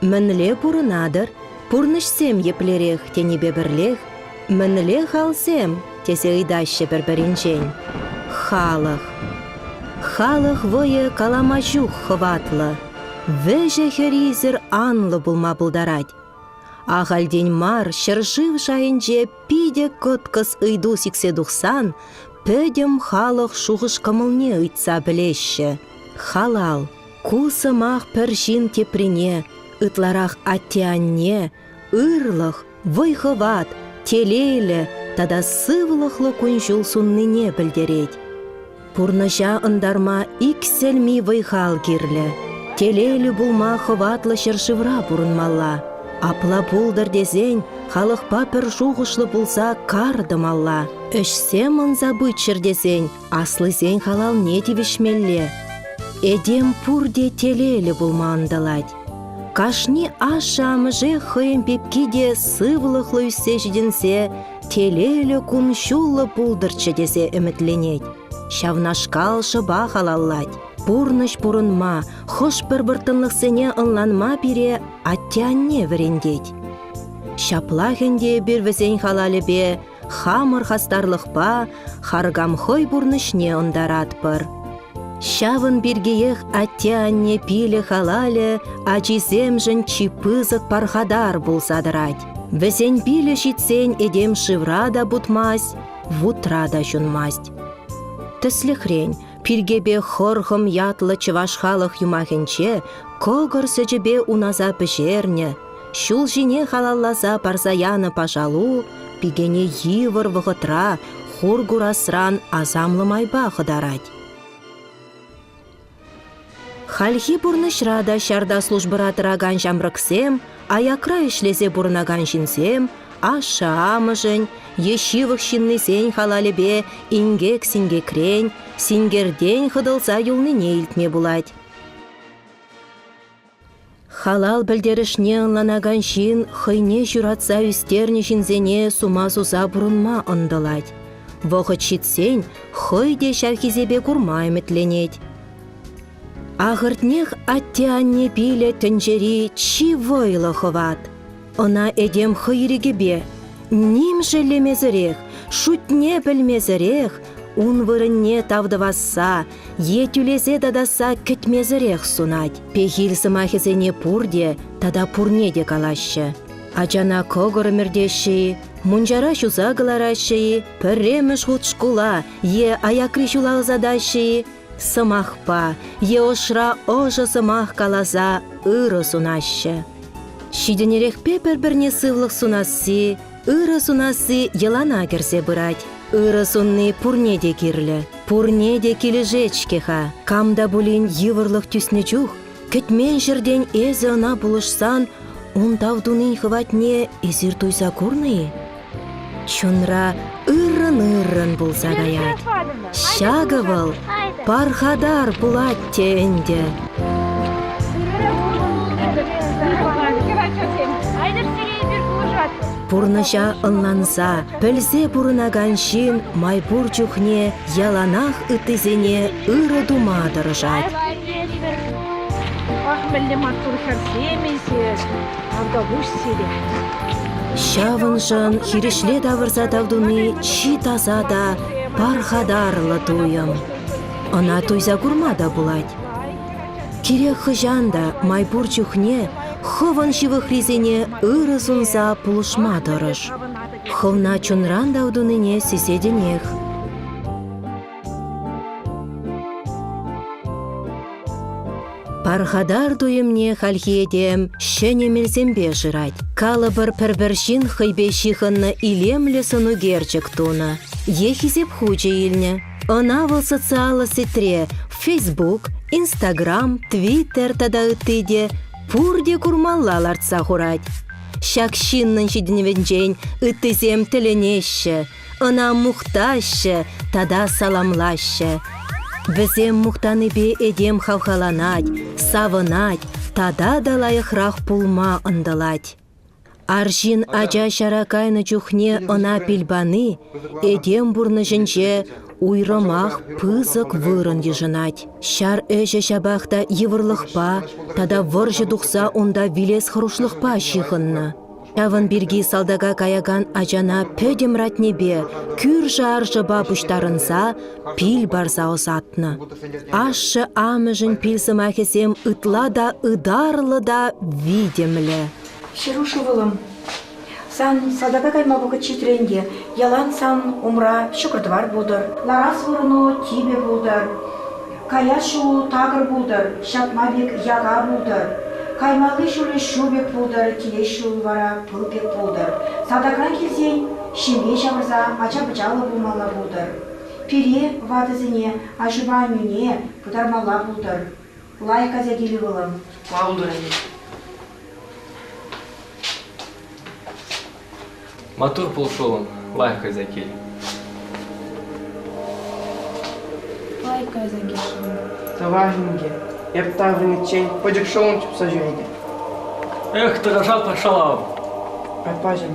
Мӗнле пурӑнатӑр? Пурнӑҫсем еплерех тенипе пӗрлех «Мӗнле халсем?» тесе ыйтаҫҫӗ пӗр-пӗринчен. Халӑх. Халӑх вӑйӗ калама ҫук хӑватлӑ. Вӗҫӗ-хӗрисӗр анлӑ пулма пултарать. Ахальтен мар ҫӗршыв шайӗнче питӗ кӑткӑс ыйту сиксе тухсан пӗтӗм халӑх шухӑш-кӑмӑлне ыйтса пӗлеҫҫӗ. Халал. Ку сӑмах пӗр ҫын теприне, ытларах атте-анне, ырлӑх, вӑй-хӑват, телейлӗ тата сывлӑхлӑ кун-ҫул суннине пӗлтерет. Пурнӑҫа ӑнтарма иксӗлми вӑй-хал кирлӗ. Телейлӗ пулма хӑватлӑ ҫӗршывра пурӑнмалла. Апла пултӑр тесен халӑхпа пӗр шухӑшлӑ пулса кар тӑмалла. Ӗҫсем ӑнса пыччӑр тесен Аслисен халалне тивӗҫмелле. Этем пурте телейлӗ пулма ӑнтӑлать. Кашни ашшӗ-амӑшӗ хӑйӗн пепки те сывлӑхлӑ ӳссе ҫитӗнсе телейлӗ кун-ҫуллӑ пултӑрччӗ тесе ӗмӗтленет. Ҫавнашкал шӑпа халаллать. Пурнӑҫ пурӑнма, хӑш-пӗр вӑрттӑнлӑхсене ӑнланма пире атте-анне вӗрентет. Ҫаплах ӗнтӗ эпир вӗсен халалӗпе хамӑр хастарлӑхпа харкам хӑй пурнӑҫне ӑнтаратпӑр. Ҫавӑн пиркиех атте-анне пилӗ халалӗ ачисемшӗн чи пысӑк пархатар пулса тӑрать. Вӗсен пилӗ ҫитсен этем шывра та путмасть, вутра та ҫунмасть. Тӗслӗхрен, пиркепе хӑрхӑм ятлӑ чӑваш халӑх юмахӗнче кӑкӑр сӗчӗпе унаса пӗҫернӗ, Ҫул ҫине халалласа парса янӑ пашалу пикене йывӑр вӑхӑтра хур курасран асамлӑ майпа хӑтарать. Хальхи пурнӑҫра та ҫарта службӑра тӑракан ҫамрӑксем, аякра ӗҫлесе пурӑнакан ҫынсем ашшӗ-амӑшӗн е ҫывӑх ҫыннисен халалӗпе инкек-синкекрен, синкертен хӑтӑлса юлнине илтме пулать. Халал пӗлтерӗшне ӑнланакан ҫын хӑйне ҫуратса ӳстернӗ ҫынсене сума суса пурӑнма ӑнтӑлать. Вӑхӑт ҫитсен хӑй те ҫав хисепе курма ӗмӗтленет. Ахӑртнех, атте-анне пилӗ тӗнчери чи вӑйлӑ хӑват. Ӑна этем хӑйрӑкӗпе, ним шеллемесӗрех, шутне пӗлмесӗрех, ун вырӑнне тав тӑвасса е тӳлесе татасса кӗтмесӗрех сунать. Пехил сӑмахӗсене пурте тата пурне те калаҫҫӗ. Ачана кӑкӑр ӗмӗртеҫҫӗ-и, мунчара ҫуса кӑлараҫҫӗ-и, пӗрремӗш хут шкула е аякри ҫула ӑсатаҫҫӗ-и, сӑмахпа е ӑшра ӑшӑ сӑмах каласа ырӑ сунаҫҫӗ. Ҫитӗнерехпе пӗр-пӗрне сывлӑх сунасси, ырӑ сунасси йӑлана кӗрсе пырать. Ырӑ сунни пурне те кирлӗ, пурне те килӗшет-ҫке-ха. Кам та пулин йывӑрлӑх тӳснӗ чух Кӗтмен ҫӗртен эсӗ ӑна пулӑшсан ун тав тунин хӑватне эсир туйса курнӑ-и? Чунра ыррӑн-ыррӑн пулса каять. Ҫакӑ вӑл пархатар пулать те ӗнтӗ. Пурнӑҫа ӑнланса, Пӗлсе пурӑнакан ҫын май пур чухне яланах ыттисене ырӑ тума тӑрӑшать. Ах, мӗнле маттур хӗрсем эсир, Артапуҫ сире. Ҫавӑншӑн хирӗҫле тавӑрса тав туни чи таса та пархатарлӑ туйӑм. Ӑна туйса курма та пулать. Кирек хӑҫан та май пур чухне хӑвӑн ҫывӑхрисене ырӑ сунса пулӑшма тӑрӑш. Хӑвна чунран та утӑнине сисетӗнех. Пархатар туйӑмне хальхи этем ҫӗнӗ мелсемпе шырать. Калӑпӑр, пӗр-пӗр ҫын хӑйпе ҫыхӑннӑ илемлӗ сӑнӳкерчӗк тунӑ е хисеп хучӗ илнӗ. Ӑна вӑл социаллӑ сетьре Facebook, Instagram, Twitter тата ытти те пурте курмалла лартса хурать. Ҫак ҫыннӑн ҫитӗнӗвӗнчен ыттисем тӗлӗнеҫҫӗ, ӑна мухтаҫҫӗ тата саламлаҫҫӗ. Вӗсем мухтанипе этем хавхаланать, савӑнать тата та лайӑхрах пулма ӑнтӑлать. Арҫын ача ҫара кайнӑ чухне ӑна пил пани этем пурнӑҫӗнче уйрӑмах пысӑк вырӑн йышӑнать. Ҫар ӗҫӗ ҫапах та йывӑрлӑхпа тата вӑрҫӑ тухса унта вилес хӑрушлӑхпа ҫыхӑннӑ. Ҫавӑн пирки салтака каякан ачана пӗтӗм ратнепе, кӳршӗ-аршӑпа пуҫтарӑнса пил парса ӑсатнӑ. Ашшӗ-амӑшӗн пил сӑмахӗсем ытла та ытарлӑ та витӗмлӗ. Ҫеруш ывӑлӑм, Сан салтака кайма вӑхӑт ҫитрӗ ӗнтӗ. Ялан сан умра ҫӑкӑр-тӑвар пултӑр. Ларас вырӑну типӗ пултӑр. Каяс ҫулу такӑр пултӑр, ҫатма пек яка пултӑр. Каймалли ҫулӗ ҫу пек пултӑр, килес ҫул вара пыл пек пултӑр. Салтакран килсен ҫемье ҫавӑрса ача-пӑчаллӑ пулмалла пултӑр. Пире, ватӑсене, аҫупа аннӳне, пытармалла пултӑр. Лайӑх ача килӗ вӑлам. Калтӑр-и? Матур пул шӑлӑм, лайӑх кайса кил. Лайӑх кайса кил шӑлӑм. Тӑвай инке, эп таврӑниччен пӗчӗк шӑлӑм чупса ҫӳретӗп. Эх, тӑрӑшатпӑр шӑлам. Аппаҫӑм,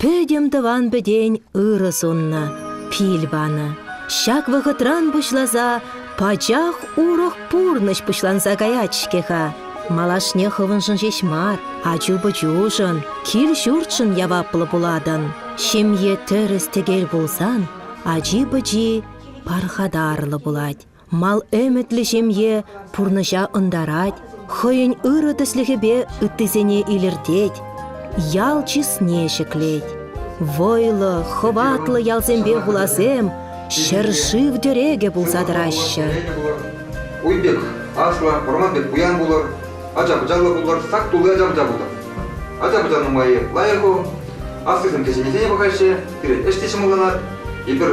пӗтӗм тӑван-пӗтен ырӑ суннӑ, пил панӑ. Ҫак вӑхӑтран пуҫласа пачах урӑх пурнӑҫ пуҫланса каять-ҫке-ха. Малашне хӑвӑншӑн ҫеҫ мар, ачу-пӑчушӑн, кил-ҫуртшӑн яваплӑ пулатӑн. Ҫемье тӗрӗс-тӗкел пулсан, ачи-пӑчи пархатарлӑ пулать. мал ӗмӗтлӗ ҫемье пурнӑҫа ӑнтарать, хӑйӗн ырӑ тӗслӗхӗпе ыттисене илӗртет, ял чысне ҫӗклет. Вӑйлӑ, хӑватлӑ ялсемпе хуласем ҫӗр-шыв тӗрекӗ пулса тӑраҫҫӗ. Уй пек, аслӑ, вӑрман пек пуян пулӑр, ача-пӑчаллӑ пулӑр, сак тулли ача-пӑча пултӑр. Ача-пӑча нумаййи лайӑх-и, аслисем кӗҫӗннисене пӑхаҫҫӗ, пирӗн ӗҫ те ҫӑмӑлланать. Эпир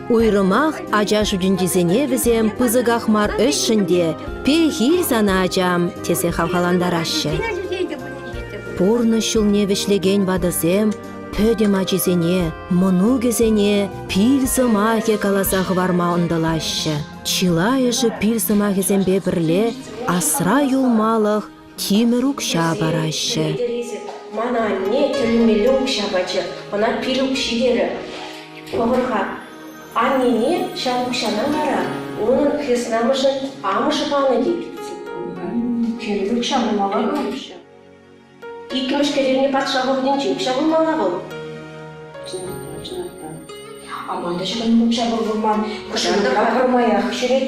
Уйрӑмах ача шутӗнчисене вӗсем пысӑках мар ӗҫшӗн те «Пехил сана, ачам!» тесе хавхалантараҫҫӗ. Пурнӑҫ ҫулне вӗҫлекен ватӑсем пӗтӗм ачисене, мӑнукӗсене пил сӑмахӗ каласа хӑварма ӑнтӑлаҫҫӗ. Чылайӑшӗ пил сӑмахӗсемпе пӗрле асра юлмалӑх тимӗр укҫа параҫҫӗ. Мана анне тӗлӗмелле укҫа пачӗ, ӑна пил укҫи терӗ. Пӑхӑр-ха, аннене ҫав укҫана вара унӑн хреснамӑшӗн амӑшӗ панӑ тет. Тимӗр укҫа пулмалла пулӗҫ. Иккӗмӗш кӗревне патша вӑхӑтӗнче укҫа пулмалла вӑл. Аманта ҫӑкӑн укҫа пур пулман, кӑшӑлка пӗрмаях ҫӳрет.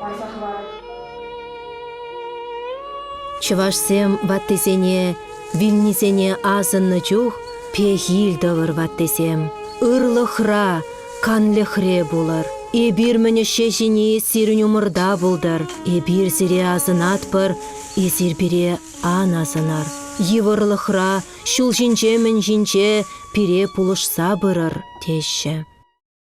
Парса хӑвар. Чӑвашсем ваттисене, вилнисене асӑннӑ чух пехил тӑвӑр, ваттисем. Ырлӑхра, канлӗхре пулӑр. Эпир мӗн ӗҫе ҫини сирӗн умӑрта пултӑр. Эпир сире асӑнатпӑр, эсир пире ан асӑнар. Йывӑрлӑхра, ҫул ҫинче мӗн ҫинче пире пулӑшса пырӑр, теҫҫӗ.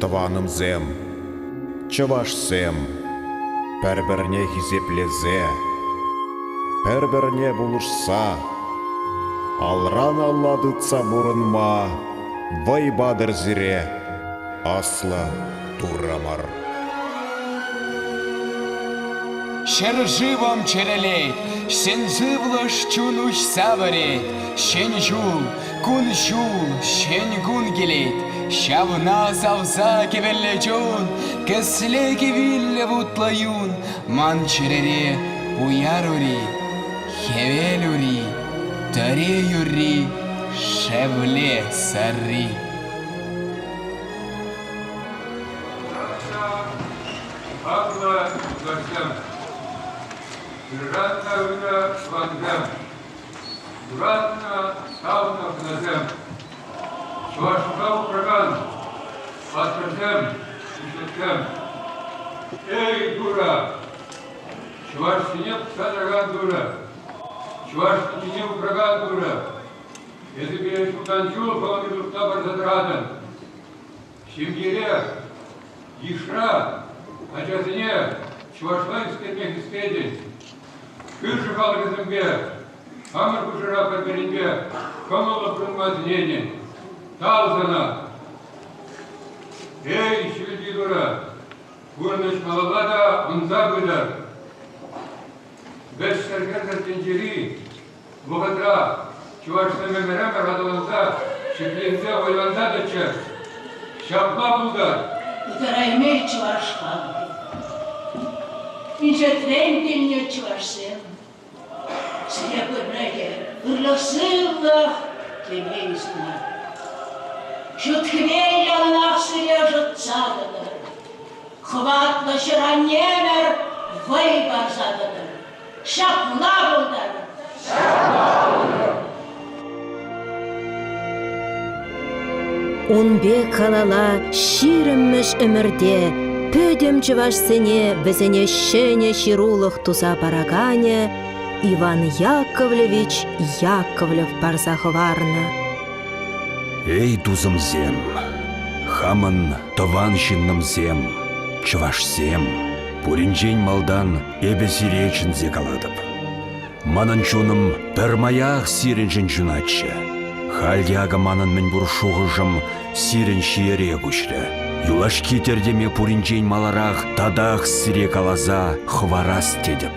Тӑванӑмсем, чӑвашсем, пӗр-пӗрне хисеплесе, пӗр-пӗрне пулӑшса, алран-алла тытса пурӑнма вӑй-патӑр сире, аслӑ Туррӑмӑр. Ҫӗршывӑм чӗрӗлет, сӗн сывлӑш чун уҫса вӗрет. Ҫӗн ҫул, Кун-ҫул ҫӗн кун килет, ҫавна савса кӗвӗллӗ чун, кӗсле кӗвиллӗ вутлӑ юн. Ман чӗрере уяр ури, хӗвел ури, тӑре юрри, шевле сарри. Павла Лукашан. Гражданка Уда Ванда. Юратнӑ, савнӑ хӗрасем, Чӑвашла упракан паттӑрсем, пуҫлӑхсем! Эй, Дура! Чӑвашсене пӑхса тӑракан Дура! Чӑваш пичине упракан Дура! Эсӗ пире ҫултан ҫул хӑвӑн ҫуртна парса тӑратӑн. Ҫемьере, йышра ачасене чӑвашла ӳскерме хистетӗн. Кӳршӗ халӑхӗсемпе, хамӑр хушӑра пӗр-пӗринпе кӑмӑллӑ пурӑнма сӗнетӗн. Тав сана! Эй, ҫӳлти Турӑ, пурнӑҫ малалла та ӑнса пытӑр. Вӗҫсӗр кӗрсӗр тӗнчери Вӑхӑтра чӑвашсем ӗмӗре пӑрахӑнса, ҫӗкленсе, вӑйланса тӑччӑр. Ҫапла пултӑр! Ытарайми чӑвашпа. Пичетрен килнӗ чӑвашсем. Сире пӗррехи ырлӑх-сывлӑх телейсӗр мар. Ҫут хӗве яланах сире ӑшӑтса тӑтӑр. Хӑватлӑ ҫӗр-аннемӗр вӑй парса тӑтӑр. Ҫапла пултӑр! Ун пек калала ҫирӗммӗш ӗмӗрте пӗтӗм чӑвашсене вӗсене ҫӗнӗ ҫырулӑх туса параканӗ Иван Яковлевич Яковлев парса хӑварнӑ. Эй, тусӑмсем, хамӑн тӑван ҫыннӑмсем, чӑвашсем, пуринчен малтан Эпӗ сире чӗнсе калатӑп. Манӑн чунӑм пӗрмаях сирӗншӗн ҫунатчӗ. Халь те акӑ манӑн мӗнпур шухӑшӑм сирӗн ҫиере куҫрӗ. Юлашки тӗртӗме пуринчен маларах татах сире каласа хӑварас тетӗп.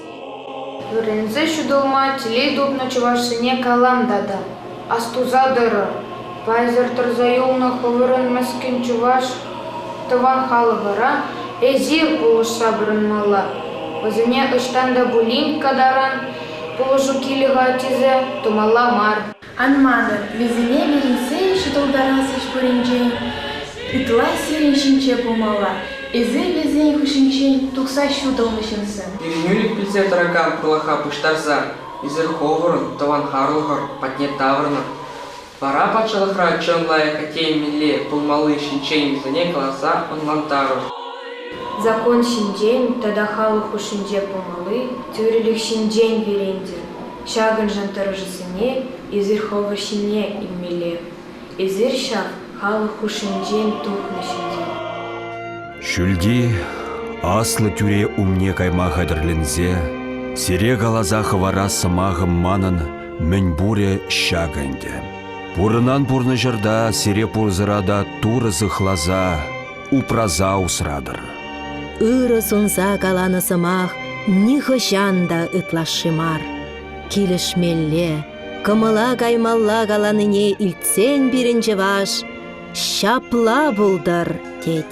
Вӗренсе ҫутӑлма телей тупнӑ чӑвашсене калам тата: астуса тӑрӑр, пайсӑр тӑрса юлнӑ хӑвӑрӑн мӗскӗн чӑваш тӑван халӑхӑра эсир пулӑшса пурӑнмалла. Вӗсене ӑҫтан та пулин катаран пулӑшу килӗ-ха тесе тумалла мар. Ан манӑр, вӗсене вӗренсе ҫутӑлтарас ӗҫ пуринчен ытла сирӗн ҫинче пулмалла, эсир вӗсен хыҫӗнчен тухса ҫутӑлнӑ ҫынсем. Ирӗнӳлӗх пӗлсе тӑракан тӑлӑха пуҫтарса эсир ховӑрӑн тӑван-харлӑхӑр патне таврӑнӑр. Вара патшалӑхра чӑн лайӑх атте мӗнле пулмалли ҫинчен вӗсене каласа ӑнлантарӑр. Закон ҫинчен тата халӑх хушшинче пулмалли тӳрӗлӗх ҫинчен вӗрентӗр. Ҫакӑншӑн тӑрӑшусене эсир хӑвӑр ҫине илмелле. Эсир ҫав халӑх хушшинчен тухнӑ ҫынсем. Ҫӳлти аслӑ тӳре умне кайма хатӗрленсе сире каласа хӑварас сӑмахӑм манӑн мӗн пурӗ ҫакӑ ӗнтӗ. Пурӑнан пурнӑҫӑрта сире пурсӑра та Турӑ сыхласа упраса усратӑр. Ырӑ сунса каланӑ сӑмах нихӑҫан та ытлашши мар. Килӗшмелле, кӑмӑла каймалла каланине илтсен пирӗн чӑваш ҫапла пултӑр, тет.